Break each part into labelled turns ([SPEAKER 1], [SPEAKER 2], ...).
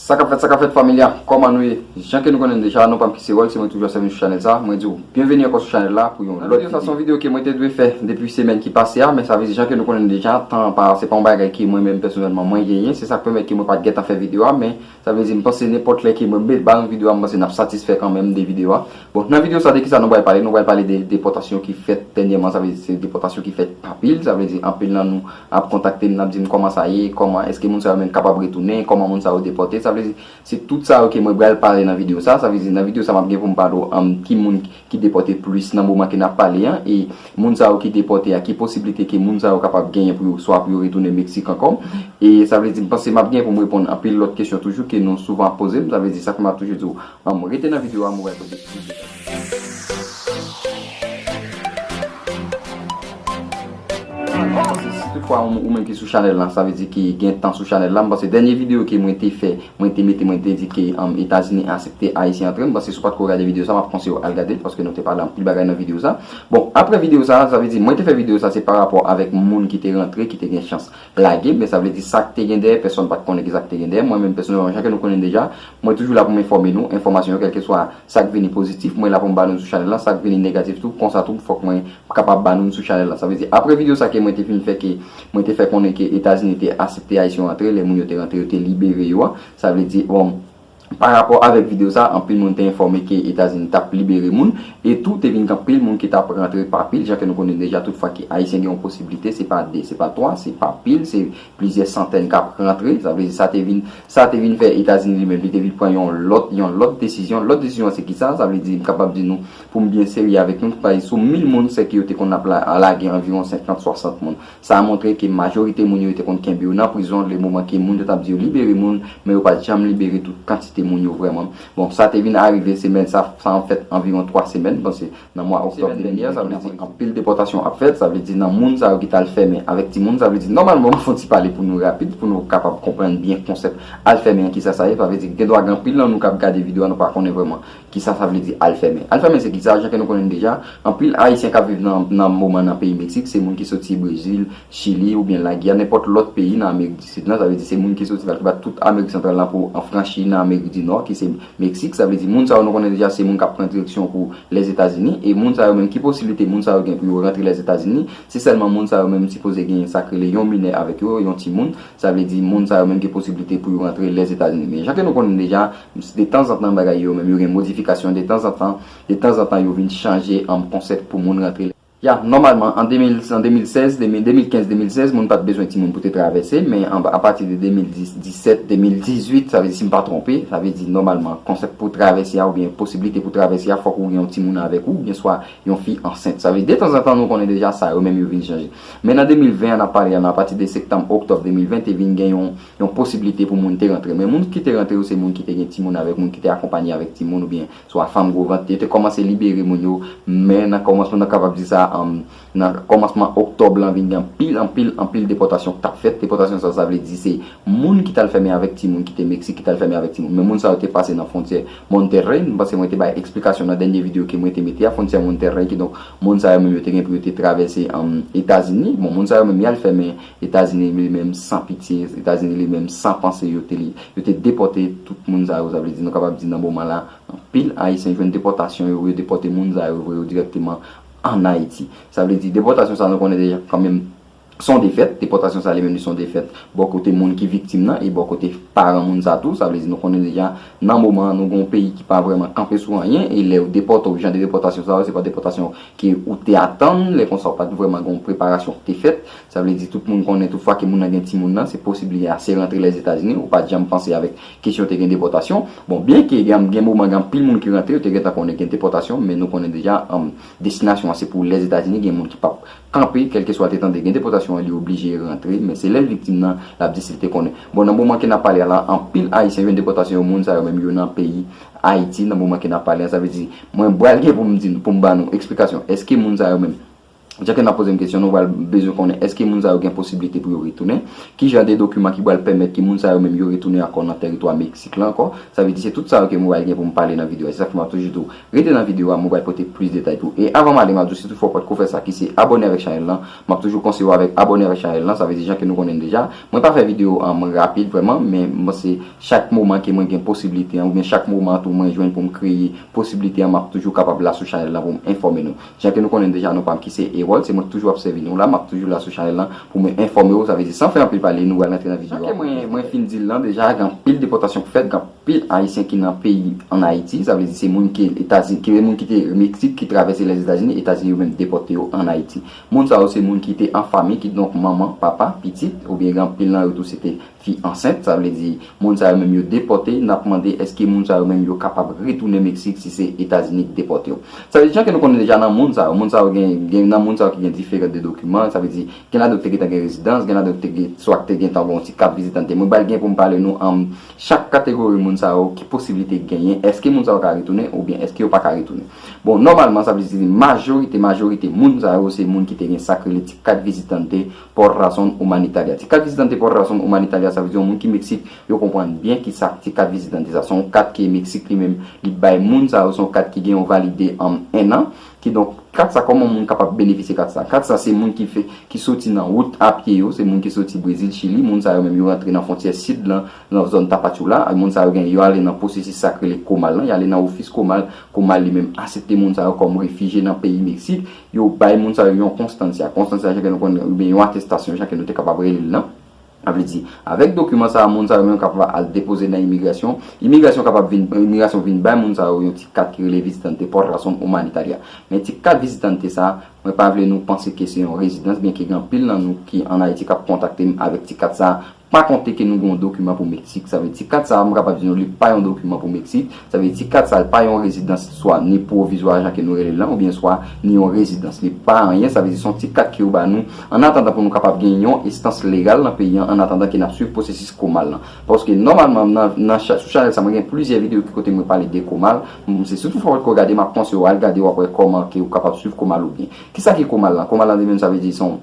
[SPEAKER 1] Sa kap fèt sa kap fèt family a kòman nou ye jan ke nou konnenm deja non pam ki se ròl se mwen toujou ap sèvi sou chanèl sa mwen diw byenveni ankò sou chanèl la pou yon lòt video sa son video ke mwen te dwe fè depi semèn ki pase a men sa vle di jan ke nou konnenm deja tan an pa se pa yon bagay ke mwen menm pèsonèlman mwen genyen se sak pèmèt ke mwen pat gentan fè video a men sa vle di mpanse nenpòt lè ke mwen met ba nou video a mpanse nap satisfè kanmenm de video a bon nan video sa de kisa nou pral pale nou pral pale de depòtasyon ki fèt dènyèman sa vle di se depòtasyon ki fèt pa pil sa vle di anpil nan nou ap kontakte n, n ap di n kòman sa ye, kòman, èske moun sa yo menm kapab retounen, kòman moun sa yo depòte, sa vle di, se tout sa yo ke mwen bral pale nan videyo sa, sa vle di nan videyo sa m ap gen pou m pale w an ki moun ki depòte plis nan moman ke n ap pale an, e moun sa yo ki depòte a ki posiblite ke moun sa yo kapab genyen pou yo swa pou yo retounen Meksik ankò, e sa vle di m panse m ap genyen pou m reponn anpil lòt kesyon toujou ke nou souvan ap poze m, sa vle di sa fè m ap toujou di w Humm rete nan video a mwen wè kote ti bebe a. Si tout fwa ou menm ki sou chanèl lan sa vle di ki gen tan sou chanèl lan m panse dènye video ke mwen te fè mwen te mete mwen te di ke etazini asepte ayisyen antre m panse si w patko gade video sa map konsiye w al gadel paske nou te pale anpil bagay nan video sa bon aprè video sa sa vle di mwen te fè video sa se parapò avèk moun ki te rantre ki te gen chans Lage, men sa vle di sa k te gen dèyè, pèsonn pa t konnen ki sa k te gen dèyè. Mwen menm pèsonèlman, jan ke nou konnen deja, mwen toujou la pou m enfòme nou, enfòmasyon yo, kèlkeswa sa k vini pozitif, mwen la pou m ba nou l sou chanèl lan, sa k vini negatif tou, konsa tou fòk mwen kapab ba nou l sou chanèl lan. Sa vle di, apre videyo sa ke mwen te fin fè ke mwen te fè konnen ke Etazini te asepte Ayisyen yo antre, lè moun yo te rantre yo te libere yo a, sa vle di, bon, Pa rapò avèk videyo sa, anpil moun te enfòme ke Etazini t ap libere moun, e tou te vin gen anpil moun ki t ap rantre pa pil, jan ke nou konnen deja tout fwa ke Ayisyen gen yon posiblite, se pa 2, se pa 3, se pa pil, se plizyè santèn k ap rantre, sa vle di sa te vin, sa te vin fè Etazini li menm li te vin pran yon lòt, yon lòt desizyon, lòt desizyon an se kisa, sa vle di m kapab di nou pou m byen serye avèk nou, m ta pale sou mil moun sè ke yo te konn ap lage anviwon senkant, swasant moun. Sa a montre ke majorite moun yo te konn kenbe yo nan prizon le moman ke moun yo t ap di yo libere moun, men yo pa t janm libere tout kantite moun yo vrèman. Bon, sa te vin arive semèn sa a, sa an fèt anviwon 3 semèn, bon se nan mwa oktòb 2020, sa vle di anpil depòtasyon ap fèt, sa vle di nan moun sa yo ki t al fèmen avèk timoun, sa vle di nòmalman, m fon ti pale pou nou rapid pou nou kapab konprann byen konsèp al fèmen an kisa sa ye, sa vle di gen dwa gen anpil nan nou k ap gade video a nou pa konnen vrèman Kisa sa vle di al fèmen? Al fèmen se kisa? Jan ke nou konnen deja, anpil Ayisyen kap viv nan moman nan peyi Meksik, se moun ki soti Brezil, Chili ou byen Laguya, nenpòt lòt peyi nan Amerik di Sid lan, sa vle di se moun ki soti nan ki bat tout Amerik Santral lan pou an franchi nan Amerik di Nò ki se Meksik, sa vle di moun sa yo nou konnen deja se moun kap pran direksyon pou Lèzetazini e moun sa yo menm ki posiblite moun sa yo gen pou yo rantre Lèzetazini, se sèlman moun sa yo menm sipoze gen sak rele yon minè avèk yo, yon timoun. Sa vle di moun sa yo menm gen posiblite pou yo rantre Lèzetazini. Men jan ke nou konnen deja, de tanzantan bagay yo menm yo gen modifikasyon, de tanzantan, de tanzantan yo vin chanje an konsèp pou moun rantre. Ya, nòmalman an 2000, an 2016, 2015, 2016 moun pa t bezwen timoun pou te travèse, men a pati de 2010, 17, 2018, sa vle di si m pa twonpe, sa vle di nòmalman konsèp pou travèse a oubyen posiblite pou travèse a fòk ou gen yon timoun avèk ou oubyen swa yon fi ansent. Sa vle di de tanzantan nou konnen deja sa yo menm yo vin chanje. Men nan 2020 an ap pale a lan apati de sektanm oktòb 2020 te vin gen yon yon posiblite pou moun te rantre men moun kite rantre yo se moun kite gen timoun avèk moun kite akonpanye avèk timoun oubyen swa fanm gwo vant yo te kòmanse libere moun yo men nan kòmansman nan kapab di sa an nan kòmansman oktòb lan vin gen anpil anpil anpil depòtasyon ki tap fèt depòtasyon sa sa vle di se moun ki tal fèmen avèk timoun kite meksik ki tal fèmen avèk timoun men moun sa yo te pase nan fontyè Monterrey m panse mwen te bay eksplikasyon nan dènye videyo ke mwen te mete a fontyè Monterrey kidonk Moun sa yo menm yo te gen pou yo te travèse Etazini. Bon, moun sa yo menm y al fè men Etazini li menm san pitye, Etazini li menm san panse yo te li. Yo te depòte tout moun sa yo, sa vle di nou kapab di nan moman la anpil Ayisyen jwenn depòtasyon yo, yo depòte moun sa yo vre yo dirèkteman ann Ayiti. Sa vle di depòtasyon sa nou konnen deja kan menm Se yon defèt, depòtasyon sa li menm li se yon defèt bò kote moun ki viktim nan e bò kote paran moun sa tou. Sa vle di nou konnen deja nan moman an nou gen yon peyi ki pa vrèman kanpe sou anyen e lè yo depòte w jan de depòtasyon sa yo se pa depòtasyon ke ou te atann. Lè konsa ou pa t vrèman gen yon preparasyon ki te fèt. Sa vle di tout moun konnen tout fwa ke moun nan gen timoun nan se posib li ase rantre Lèzetazini. Ou pa t janm panse avèk kesyon te gen depòtasyon. Bon byen ke gen gen moman gen anpil moun ki rantre yo te gentan konnen gen depòtasyon men nou konnen deja destinasyon an se pou Lèzetazini gen moun ki p ap kanpe kèlkeswa l te tande gen depòtasyon an li oblije rantre men se lè l viktim nan l ap di si l te konnen bon nan moman ke n ap pale a la anpil ayisyen jwenn depòtasyon yo moun sa yo menm yo nan peyi ayiti nan moman ke n ap pale a sa vle di mwen bal gen pou m di nou pou m ba nou eksplikasyon èske moun sa yo menm jan ke n ap poze m kesyon nou bal bezwen konnen èske moun sa yo gen posibilite pou yo retounen ki jan de dokiman ki bal pèmèt ke moun sa yo menm yo retounen ankò nan tèritwa meksik la ankò sa vle di se tout sa yo ke mwen bal gen pou m pale nan videyo a se sa k fè m ap toujou di w Rete nan video a mwen pral pote plis detay tou. E avan m ale map diw si toutfwa w potko fè sa ki se abone avèk chanèl lan, map toujou konseye w avèk abone avèk chanèl lan, sa vle di jan ke nou konnen l deja. Mwen pa fè video an mwen rapid vrèman men m panse chak moman ke mwen gen posibilite an oubyen chak moman tou mwen jwenn pou m kreye posibilite an map toujou kapab la sou chanèl lan pou m enfòme nou. Jan ke nou konnen l deja non pa m ki se Erol se mwen k toujou ap sèvi nou la map toujou la sou chanèl lan pou mwen enfòme w sa vle di san fè anpil pale nou pral rantre nan video a. Jan ke mwen mwen fin di l lan deja gen anpil depòtasyon k fèt gen Pil Ayisyen ki nan peyi an Ayiti, sa vle di se moun ke Etazini, ke moun ki te Meksik ki travèse Lèzetazini, Etazini yo menm depòte yo an Ayiti. Moun sa yo se moun ki te an fanmi, kidonk manman, papa, pitit, oubyen gen anpil nan yo tou se te fi ansent, sa vle di moun sa yo menm yo depòte, n ap mande èske moun sa yo menm yo kapab retounen Meksik si se Etazini ki depòte yo. Sa vle di jan ke nou konnen deja nan moun sa yo, moun sa yo gen, gen nan moun sa yo ki gen diferan de dokiman, sa vle di gen ladan yo ki te gentan gen rezidans, gen ladan yo ki te gen, swa ki te gentan gen yon ti kat vizitan te. Mwen bay gen pou m pale nou an. Chak kategori moun sa yo, ki posiblite genyen? Èske moun sa yo ka retounen oubyen èske yo pa ka retounen? Bon, nòmalman, sa vle di se majorite majorite moun sa yo se moun ki te gen sa k rele ti kat vizitante por razon humanitaria. Ti kat vizitante por razon humanitaria sa vle di yon moun ki Meksik, yo konprann byen ki sa ti kat vizitante sa. Se yon kat ke Meksik li menm li bay moun sa yo, se yon kat ki gen yon valide ennan. Kidonk, kat sa kòman moun kapab benefisye kat sa? Kat sa se moun ki fè, ki soti nan wout a pye yo, se moun ki soti Brezil, Chili, moun sa yo menm yo rantre nan fwontyè sid lan, nan zòn Tapachula, a moun sa yo genyen yo ale nan pwosesis sa k rele Comal lan, y ale nan ofis Comal, Comal li menm asepte moun sa yo kòm refijye nan peyi Meksik, yo bay moun sa yo yon konstansya, konstansya jan ke nou konnen, oubyen yon atestasyon jan ke nou te kapab rele l nan. Sa vle di, avèk dokiman sa a, moun sa yo menm kap va al depoze nan imigrasyon, imigrasyon kapab vin, imigrasyon vin bay moun sa yo yon ti kat ki rele visitante por razón humanitaria. Men ti kat visitante sa a, mwen pa vle nou panse ke se yon rezidans, byenke gen anpil nan nou ki an Ayiti kap kontakte m avèk ti kat sa a, pa konte ke nou gen yon dokiman pou Meksik. Sa vle di ti kat sa a, m kapab di nou li pa yon dokiman pou Meksik. Sa vle di kat sa l pa yon rezidans swa ni pwovizwa jan ke nou rele l lan oubyen swa ni yon rezidans. Li pa anyen, sa vle di se yon ti kat ke yo ba nou annatandan pou nou kapab gen yon estans legal nan peyi an annatandan ke n ap swiv pwosesis komal lan. Paske nòmalman nan nan sou chanèl sa mwen gen plizyè videyo ki kote mwen pale de komal, m se sitou fwa ou pa t ko gade m ap konseyew al gade w ap wè kòman ke ou kapab swiv komal ou byen. Kisa ki komal lan? Komal lan li menm sa vle di se yon.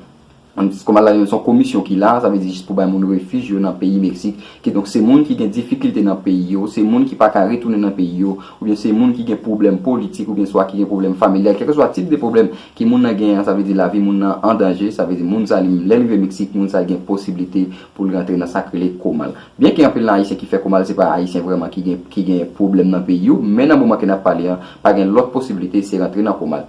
[SPEAKER 1] An diskou Malala Yon son komisyon ki la, sa vle di jis pou bay moun refij yo nan peyi Meksik. Kidonk se moun ki gen difikilte nan peyi yo, se moun ki pa ka retounen nan peyi yo, oubyen se moun ki gen pwoblèm politik oubyen swa ki gen pwoblèm familyal, kèlkeswa tip de pwoblèm ke moun nan genyen an, sa vle di lavi moun nan an danje, sa vle di moun sa li, lè l rive Meksik, moun sa gen posiblite pou l rantre nan sa k rele komal. Byenke anpil nan Ayisyen ki fè komal se pa Ayisyen vrèman ki gen ki gen pwoblèm nan peyi yo, men nan moman ke n ap pale an, pa gen lòt posiblite, se rantre nan komal.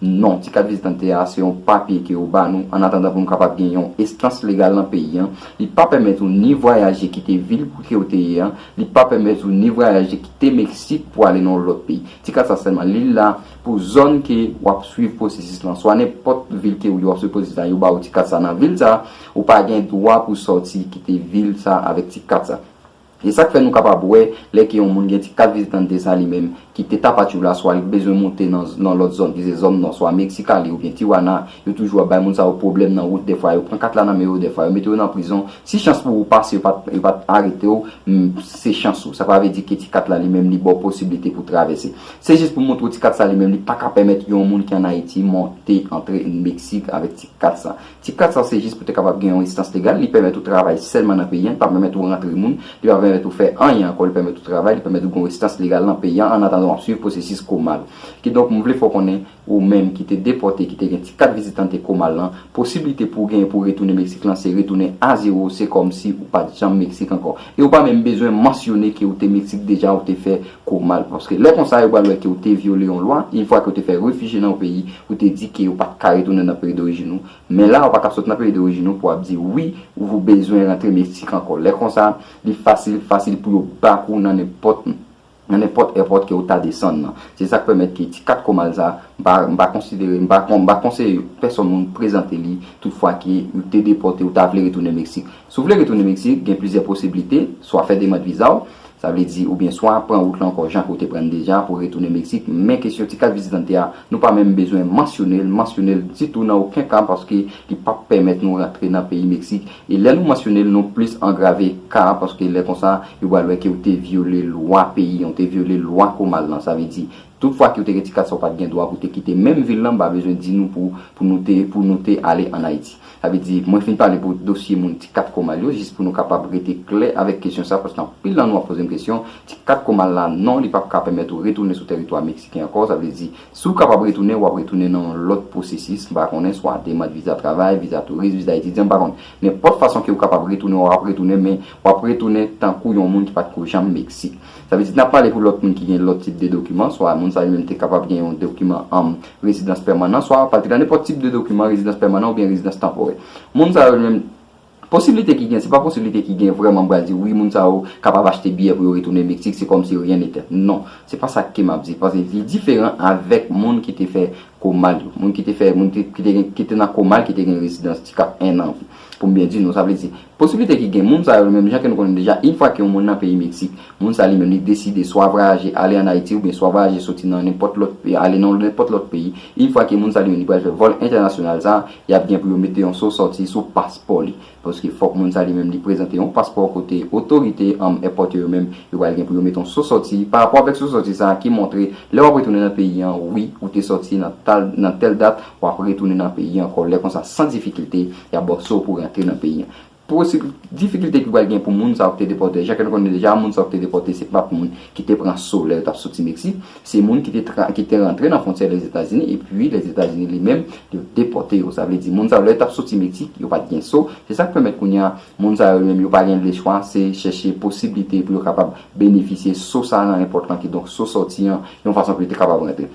[SPEAKER 1] Non, ti kat vizitante a se yon papye ke yo ba nou an atandan pou m kapab gen yon estans legal nan peyi an. Li pa pèmèt ou ni vwayaje kite vil kote ou te ye an, li pa pèmèt ou ni vwayaje kite Meksik pou ale nan yon lòt peyi. Ti kat sa sèlman li la pou zòn ke w ap swiv pwosesis lan. Swa nenpòt vil ke ou ye w ap swiv pwosesis la, yo ba ou ti kat sa nan vil sa a, ou pa gen dwa pou sòti kite vil sa a avèk ti kat sa. E sa k fè nou kapab wè lè ke yon moun gen ti kat vizitan n te sa li menm ki te tapachou la swa li t bezwen moute nan nan lòt zòn ki se zòn nò swa Mexicali oubyen Tijuana yo toujou ap bay moun sa yo pwoblèm nan wout dèfwa yo pran kat la nan men yo dèfwa yo mete yo nan prizon si chans pou ou pase yo pa t yo pa t arete w m se chans ou sa pa vle di ke ti kat la li menm li ba w posiblite pou travèse se jis pou montre w ti kat sa li menm li pa ka pèmèt yon moun ki an Ayiti monte antre Meksik avèk ti kat sa. Tip kat sa w se jis pou te kapab gen yon rezidans legal, li pèmèt ou travay sèlman nan peyi an, li pa pèmèt ou rantre moun, li pa pèmèt ou fè anyen ankò, li pèmèt ou travay, li pèmèt ou gen yon rezidans legal nan peyi an annatandan w ap swiv pwosesis Komal. Kidonk m vle fè w konnen ou menm ki te depòte ki te gen ti kat vizitante Komal lan, posiblite pou w genyen pou w retounen Meksik lan se retounen a zewo, se kòmsi ou pa t janm Meksik ankò e ou pa menm bezwen mansyone ke ou te Meksik deja ou te fè Kou mal paske lè konsa yo pral wè ke ou te vyole yon lwa yn fwa ke ou te fè refijye nan yon peyi ou te di ke ou pat ka retounen nan peyi dorijin ou men la ou pa ka sot nan peyi dorijin ou pou ap di wi ou bezwen rantre Meksik ankò lè konsa li fasil fasil pou yo back ou nan nenpòt nan nenpòt èpòt ke ou ta desann nan se sak pèmèt ke ti kat kou mal sa m pa m pa konsidere m pa m pa konseye pèsòn moun prezante li tout fwa ke ou te depòte ou ta vle retounen Meksik si w vle retounen Meksik gen plizyè posiblite swa fè demand viza w Sa vle di ou byen swa pran wout lan ankò jan ke ou te pran n deja pou retounen Meksik, men kesyon ti kat vizitante a, nou pa menm bezwen mansyone l, mansyone l ditou nan oken ka paske li pap pèmèt nou rantre nan peyi Meksik e lè nou mansyone l nou plis angrave ka a paske lè konsa yo pral wè ke ou te vyole lwa peyi an, ou te vyole lwa komal lan, sa vle di Tout fwa kiw te gen ti kat sa ou pat gen dwa pou te kite menm vil lan m pa bezwen di nou pou pou nou te pou nou te ale an Ayiti. Sa vle di mwen fin pale pou dosye moun ti kat komal yo jis pou nou kapab rete klè avèk kesyon sa paske anpil nan nou ap pozem kesyon ti kat komal la non li pap ka pèmèt ou retounen sou tèritwa meksiken ankò sa vle di siw kapab retounen wap retounen nan yon lòt pwosesis m pa konnen swa demand viza travay viza touris viza etidyan m pa konn nenpòt fason kew kapab retounen wap retounen men wap retounen tankou yon moun ki pat ko janm Meksik Sa vle di, nan pale pou lòt moun ki gen lòt tip de dokiman, swa moun sa yo menm te kapab gen yon dokiman an rezidans pèmanan, swa pale nan nenpòt tip de dokiman, rezidans pèmanan oubyen rezidans tanporè. Moun sa yo menm, posiblite ki gen, se pa posiblite ki gen vrèman m pral di wi moun sa yo kapab achte biyè pou yo retounen Meksik, se kòm si ryen nete. Non. Se pa sa ke m ap di. Paske li diferan avèk moun ki te fè Comal yo. Moun ki te fè, moun ki te gen, ki te nan Comal ki te gen rezidans ti kat ennan. Pou m byen di nou, sa vle di, posiblite ki gen, moun sa yo, menm jan ke nou konnen deja, in fwa ke yon moun nan peyi Meksik, moun sa li menm li deside swa vwayaje ale an Ayiti oubyen swa vwayaje soti nan nenpòt lòt, ale nan nenpòt lòt peyi, in fwa ke moun sa li menm li pral fè vòl entènasyonal sa, y ap gen pou yo mete yon so sòti sou paspò li. Paske fòk moun sa li menm li prezante yon paspò kote otorite, anm, èpòt yo yo menm, yo pral gen pou yo mete yon so sòti, parapò avèk so sòti sa ki montre lè w ap retounen nan peyi an, wi, ou te sòti nan tal, nan tèl dat, W ap retounen nan peyi an ankò. Lè konsa, san difikilte, y ap ba w sa w pou rantre nan peyi an. Posib difikilte ki pral gen pou moun sa yo ki te depòte. Jan ke nou konnen deja, moun sa yo ki te depòte se pa t moun ki te pran so lè yo t ap soti Meksik. Se moun ki te tra, ki te rantre nan fwontyè Lèzetazini epi Lèzetazini li menm yo depòte yo. Sa vle di, moun sa yo lè yo t ap soti Meksik, yo pa t gen so. Se sa k pèmèt kounye a, moun sa yo li menm yo pa gen lechwa, se chèche posiblite pou yo kapab benefisye so sa nan enpòt lan, kidonk so sòti an, yon fason pou yo te kapab rantre.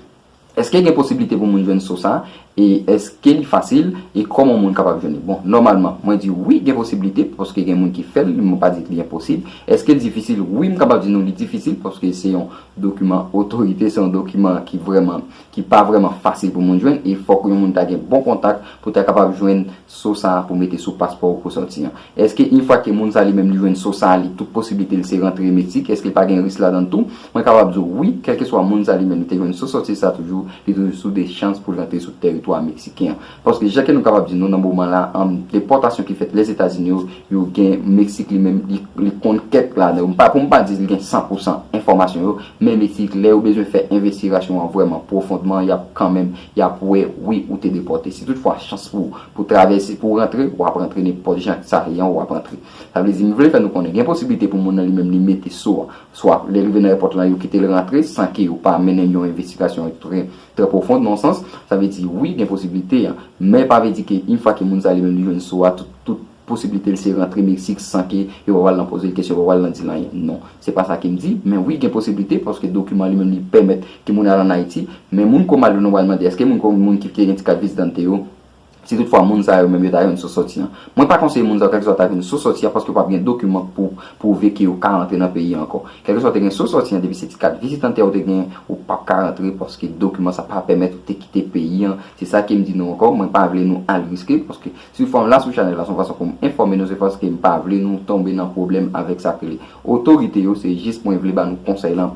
[SPEAKER 1] Eske gen posibilite pou moun jwenn so sa e eske li fasil e koman moun kapab jwenn li bon nòmalman mwen di wi gen posibilite paske gen moun ki fèl mwen pa di li enposib eske l difisil wi m kapab di nou li difisil paske se yon dokiman otorite se yon dokiman ki vrèman ki pa vrèman fasil pou moun jwenn e fòk yon moun ta gen bon kontak pou ta kapab jwenn so sa pou mete sou paspò ou pou sòti an. Eske yn fwa ke moun sa li menm li jwenn so sa a li tout posiblite l se rantre Meksik eske l pa gen risk ladann tou? Mwen kapab di w wi, kèlkeswa moun sa li menm li te jwenn so sòti sa toujou li toujou sou de chans pou l rantre sou tèritwa Meksiken an. Paske jan ke nou kapab di nou nan moman la a depòtasyon ki fèt Lèzetazini yo, yo gen Meksik li menm li li konn kèk ladan yo. M pa pou m pa di li gen san pou san enfòmasyon yo men Meksik lè yo bezwen fè envestirasyon an vrèman pwofondman y ap kanmenm Yap wè wi ou te depòte. Si tout fwa chans pou pou travèse pou rantre, wap rantre nenpòt jan ak sa yan wap antre. Sa vle di m vle fè nou konnen gen posiblite pou moun nan li menm li mete so an. Swa lè rive nan èpòt lan yo kite l rantre san ke yo pa mennen yon envestigasyon trè trè pwofond nan yon sans. Sa vle di wi gen posiblite an. Men pa vle di ke yn fwa ke moun sa li menm li jwenn so a tout tout Posiblite l se rantre Meksik san ke yo pa pral nan poze l kesyon, yo pa pral nan di l anyen. Non. Se pa sa ke m di. Men wi gen posiblite paske dokiman li menm li pèmèt ke moun al an Ayiti. Men moun ko mal yo nou pral mande èske moun ko moun ki gen ti kat vizdante yo, si tout fwa moun sa yo menm yo ta jwenn sou sòti an. Mwen pa konseye moun sa yo kèlkeswa ta jwenn sou sòti an paske yo pa p gen dokiman pou pwouve ke yo ka rantre nan peyi a ankò. Kèlkeswa ou te gen sou sòti an depi se ti kat vizitante a ou te genyen ou pa p ka rantre paske dokiman sa pa pèmèt ou te kite peyi an. Se sa ke m di nou ankò. Mwen pa vle nou al riske paske Sou fòm la sou chanèl la son fason poum enfòme nou se paske m pa vle nou tonbe nan pwoblèm avèk sak rele otorite yo se jis mwen vle ba nou konsèy lan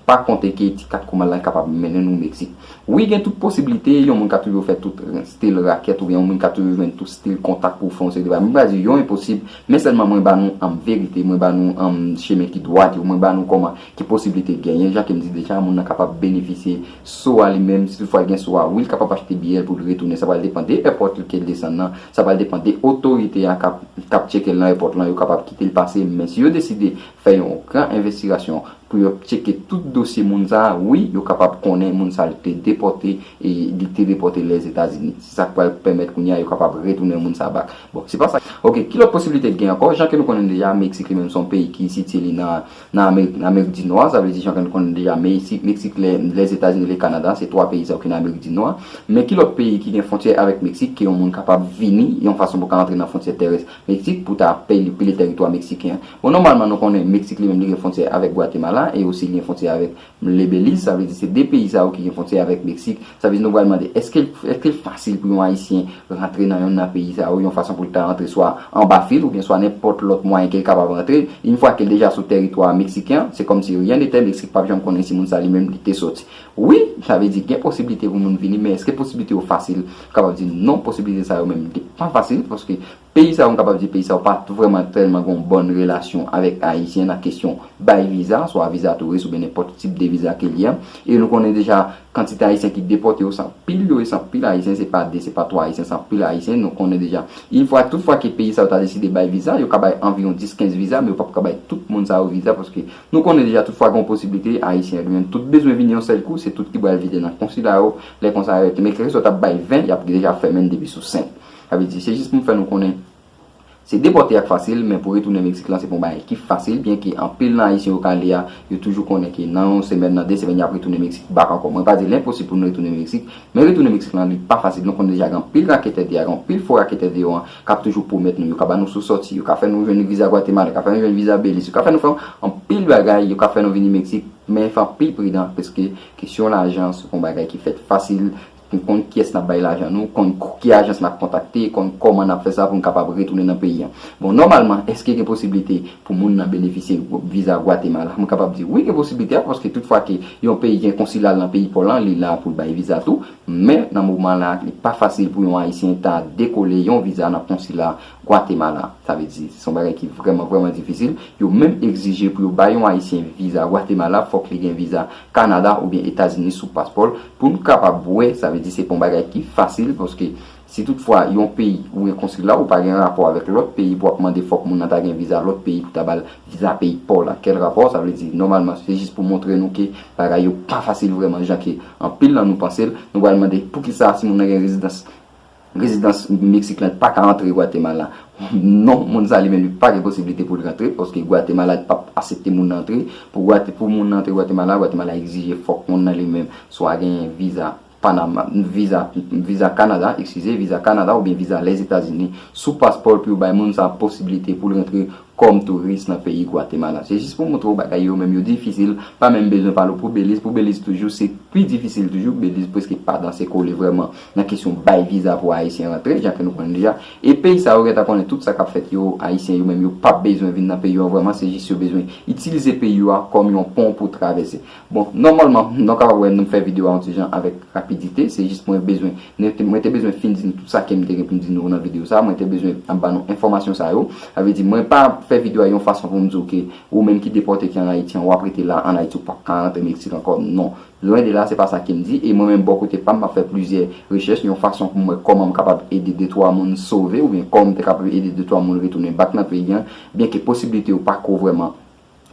[SPEAKER 1] pa konte ke ti kat kouman lan kapab mennen nou meksik wi gen tout posiblite yon moun ka toujou fè tout stil rakèt oubyen yon moun ka toujou jwenn tout stil kontak pou fè yon seri de bagay mwen pa di yo enposib men sèlman mwen ba nou anm verite mwen ba nou anm chemen ki dwat yo mwen ba nou kòman Ki posiblite genyen, jan ke m di deja, moun nan kapab benefisye so a li menm, si tout fwa l gen so a, wi l kapab achte biyè l pou l retounen, sa pral depan de èpòt l ke l desann nan, sa pral depan de otorite a k ap tcheke l nan èpòt lan, yo kapab kite l pase, men si yo deside fè yon gran envestirasyon pou yo tcheke tout dosye moun sa, wi yo kapab konnen moun sa l te depòte e li te depòte Lèzetazini, se sa k pral pèmèt kounye a yo kapab retounen moun sa bak. Bon, se pa sa. Ok, ki lòt posiblite k gen ankò, jan ke nou konnen deja, Meksik li menm se yon peyi ki sitye li nan Nan Amerik, nan Amerik di Nò, sa vle di jan ke nou konnen deja Meyisik, Meksik, lè, Lèzetazini, lè Kanada, se twa peyi sa yo ki nan Amerik di Nò a. Men ki lòt peyi ki gen fwontyè avèk Meksik ke yon moun kapab vini yon fason pou ka antre nan fwontyè tèrès Meksik pou ta peli, pile tèritwa meksiken an? Bon, nòmalman nou konnen Meksik li menm li gen fwontyè avèk Gwatemala e osi li gen fwontyè avèk M le Belize, sa vle di se 2 peyi sa yo ki gen fontyè avèk Meksik. Sa vle di nou pral mande, èske l èske l fasil pou yon Ayisyen rantre nan yonn nan peyi sa yo yon fason pou l ta rantre swa anba fil oubyen swa nenpòt lòt mwayen ke l kapab rantre? Yn fwa ke l deja sou tèritwa meksiken an, se kòmsi ryen netè, Meksik pap janm konnen si moun sa li menm li te soti. Wi, sa vle di gen posiblite pou moun vini, men èske posiblite yo fasil? M kapab di non, posiblite sa yo menm li pa fasil paske Peyi sa yo, m kapab di peyi sa yo pa vrèman tèlman gen yon bòn relasyon avèk Ayisyen nan kesyon bay viza, swa viza touris oubyen nenpòt tip de viza ke li ye. E nou konnen deja kantite Ayisyen ki depòte yo se anpil yo e se anpil Ayisyen, se pa 2, se pa 3 Ayisyen, se anpil Ayisyen. Nou konnen deja in fwa, tout fwa ke peyi sa yo ta deside bay viza, yo ka bay anviwon 10, 15 viza, men yo pap ka bay tout moun sa yo viza paske nou konnen deja tout fwa gen yon posiblite Ayisyen yo menm tout bezwen vini yon sèl kou, se tout ki bral vide nan konsila yo, lè konsa yo, men kèlkeswa yo ta bay 20, y ap deja fèmen depi sou 5. Sa vle di, se jis pou m fè nou konnen se depòte a k fasil men pou retounen Meksik lan se pa yon bagay ki fasil byenke anpil nan Ayisyen yo ka ale a yo toujou konnen ke nan yon semèn, nan de semèn y ap retounen Meksik bak ankò. Mwen pa di l enposib pou nou retounen Meksik men retounen Meksik lan li pa fasil. Nou konnen deja gen anpil raketè deyò, gen anpil fo raketè deyò an k ap toujou pwomèt nou, yo ka ba nou sou sòti, yo ka fè nou jwenn viza Gwatemala, yo ka fè nou jwenn viza Beliz, yo ka fè nou fè anpil bagay, yo ka fè nou vini Meksik men fè anpil pridan pske kesyon lajan se pa yon bagay ki fèt fasil. Pou konn kiyès n ap bay lajan nou, konn ki ajans n ap kontakte, konn kòman n ap fè sa pou n kapab retounen nan peyi an. Bon, nòmalman, èske gen posiblite pou moun nan benefisye viza Gwatemala? M kapab di wi gen posiblite a paske tout fwa ke yon peyi gen konsila l nan peyi pa w lan, li la pou l bay viza tou. Men, nan moman la, li pa fasil pou yon Ayisyen ta dekole yon viza nan konsila Gwatemala. Sa vle di, se yon bagay ki vrèman, vrèman difisil. Yo menm egzije pou yo bay yon Ayisyen viza Gwatemala, fòk li gen viza Kanada oubyen Etazini sou paspò l. Pou n kapab wè, sa vle di se pa yon bagay ki fasil, paske si tout fwa yon peyi ou gen konsila, ou pa gen rapò avèk lòt peyi pou w ap mande fòk moun nan ta gen viza lòt peyi pou ta ba l viza peyi pa w la. Kèl rapò? Sa vle di, nòmalman, se jis pou montre nou ke bagay yo pa fasil vrèman jan ke anpil nan nou panse l. Nou pral mande, poukisa si moun nan gen rezidans. Rezidans Meksik lan pa ka antre Gwatemala. Non, moun sa li menm li pa gen posiblite pou l rantre, paske Gwatemala li pap asepte moun nan antre. Pou moun nan antre Gwatemala, Gwatemala egzije fòk moun nan li menm swa genyen viza Panama, viza Kanada, ekskize, viza Kanada oubyen viza Lèzetazini sou paspò l pou yo bay moun sa posiblite pou l rantre kòm touris nan peyi Gwatemala. Se jis pou montre w bagay yo menm yo difisil, pa menm bezwen pale w pou Beliz. Pou Beliz toujou se pi difisil toujou. Beliz preske pa danse kole vrèman nan kesyon bay viza pou Ayisyen rantre, jan ke nou konnen deja. E peyi sa yo gentan konnen tout sa k ap fèt yo, Ayisyen yo menm yo pa bezwen vin nan peyi yo an vrèman, se jis yo bezwen itilize peyi yo a kòm yon pon pou travèse. Bon, nòmalman, nou kapab wè nou fè videyo a yon ti jan avèk rapidite, se jis mwen bezwen, mwen te bezwen fin di nou tout sa ke m te gen pou m di nou nan videyo sa a, mwen te bezwen ba nou enfòmasyon sa yo. Sa vle di, mwen pa fè videyo a yon fason pou m di w ke ou menm ki depòte ki an Ayiti an, w ap rete la an Ayiti, ou p ap ka rantre Meksik ankò, non. Lwen de la, se pa sa ke m di, e mwen menm bò kote pa m, m ap fè plizyè rechèch yon fason pou m wè kòman m kapab ede de twa moun sove oubyen kòman m te kapab ede de twa moun retounen bak nan peyi an, byenke posiblite yo pa ko vrèman.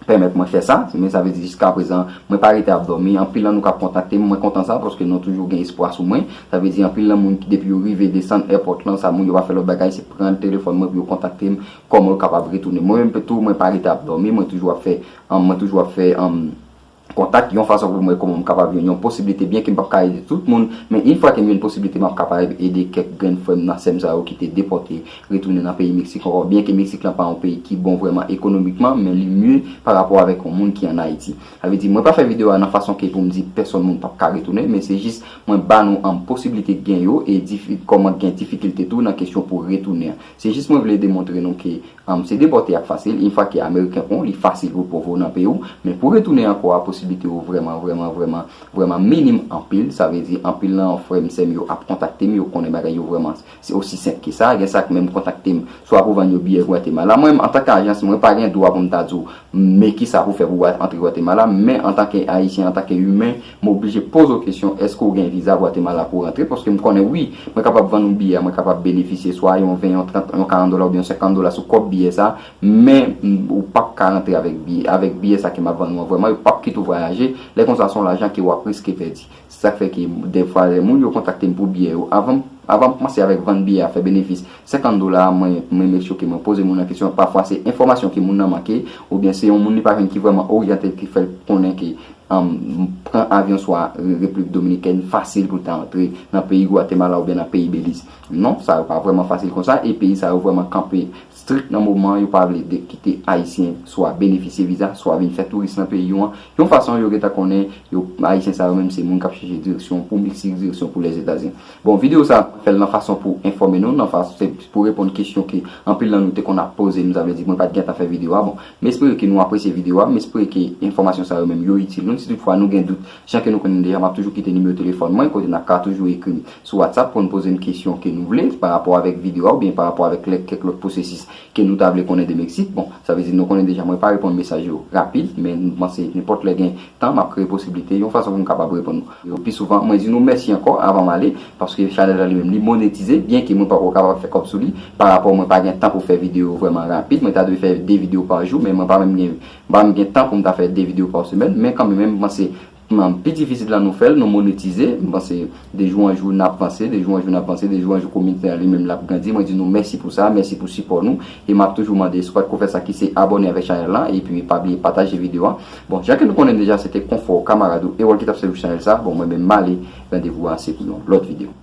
[SPEAKER 1] pèmèt mwen fè sa, men sa vle di jiska prezan mwen pa rete ap dòmi, anpil nan nou kap kontakte m mwen kontan sa paske nou toujou gen espwa sou mwen, sa vle di anpil nan moun depi yo rive desann èpòt lan sa moun yo pa fè lòt bagay se pran telefòn mwen pou yo kontakte m kòman yo kapab retounen mwen menm tou mwen pa rete ap dòmi mwen toujou ap fè mwen toujou ap fè kontak yon fason pou m wè kòman m kapab jwenn yon posiblite byenke m pap ka ede tout moun men in fwa ke m jwenn posiblite map kapareb ede kèk grenn frè m nan sè m sa yo ki te depòte retounen nan peyi Meksik ankò byenke Meksik lan pa yon peyi ki bon vrèman ekonomikman men li mye pa rapò avèk yon moun ki an Ayiti sa vle di mwen pa fè video a nan fason ke pou m di pèsòn moun pap ka retounen men se jis mwen ba nou anm posiblite gen yo e difi kòman gen difikilte tou nan kesyon pou retounen an se jis mwen vle demontre nou ke Humm se depòte ak fasil in fwa ke ameriken kon li fasil pou pov ou nan peyi w men pou retounen ankò a posiblite yo vrèman vrèman vrèman vrèman minim anpil sa vle di anpil nan frè m sè m yo ap kontakte m yo konnen bagay yo vrèman se osi senp ke sa gen sa k menm kontakte m swa pou vann yo biyè Guatemala mwen m antan k ajans mwen pa gen dwa pou m ta di w me kisa pou fè pou w antre Guatemala men antan ke ayisyen antan ke imen M oblije poze w kesyon èske w gen viza Gwatemala pou w rantre paske m konnen wi mwen kapab vann ou biyè a mwen kapab benefisye swa yon 20 yon 30 yon 40 dola oubyen yon 50 dola sou kòb biyè sa men ou pap ka rantre avèk biyè avèk biyè sa ke m ap vann ou an vrèman yo pap kite w vwayaje lè konsa se yon lajan ke w ap riske pèdi se sa k fè ke dèfwa lè moun yo kontakte m pou biyè yo avan m avan m kmanse avèk vann biyè a fè benefis 50 dola mwen renmen choke mwen poze moun nan kesyon pafwa se enfòmasyon ke moun nan manke oubyen se yon moun li pa jwenn ki vrèman oryante ki fèl konnen ke pran avyon swa Repiblik Dominikèn fasil pou l ta antre nan peyi Gwatemala oubyen nan peyi Beliz non sa yo pa vrèman fasil konsa e peyi sa yo vrèman kanpe strik nan moman an yo pa vle de kite ayisyen swa benefisye viza swa vin fè touris nan peyi yo an yon fason yo gentan konnen yo ayisyen sa yo menm se moun k ap chèche direksyon pou Meksik direksyon pou Lèzetazini. Bon video sa fèl nan fason pou enfòme nou nan fas se pou reponn kesyon ke anpil nan nou te konn ap poze m sa vle di mwen pat gentan fè video a bon m espere ke nou apresye video a m espere ke enfòmasyon sa yo menm yo itil nou si tout fwa nou gen dout jan ke nou konnen deja map toujou kite nimewo telefòn mwen kote nap ka toujou ekri m sou WhatsApp pou n poze m kesyon ke nou vle parapò avèk video a oubyen parapò avèk lèk kèk lòt pwosesis ke nou ta vle konnen de Meksik. Bon, sa vle di nou konnen deja mwen pa reponn mesaj yo rapid, men m panse nenpòt lè gen tan m ap kreye posiblite yon fason pou m kapab reponn nou yo pi souvan. Mwen di nou mèsi ankò avan m ale, paske chanèl la li menm li monetize, byenke mwen pako kapab fè kòb sou li, pa rapò mwen pa gen tan pou fè videyo vrèman rapid, mwen ta dwe fè 2 videyo pa jou, men mwen pa menm gen m pa menm gen tan pou m ta fè 2 videyo pa semèn, men kanmenmem m panse. Nan pi difisil la nou fèl, nou monetize, m panse de jou an jou nap vanse, de jou an jou nap vanse, de jou an jou komite an li menm lap grandi, mwen di nou mèsi pou sa, mèsi pou sipò nou, e map toujou mande skwat ko fè sa ki se abòne avèk chanèl lan, epi pa bliye pataje video an, bon jan ke nou konnen deja se te konfò, kamarad ou, e wòl ki tap sèvi pou chanèl sa, bon mwen menm male, randevou an se pou yon lòt video.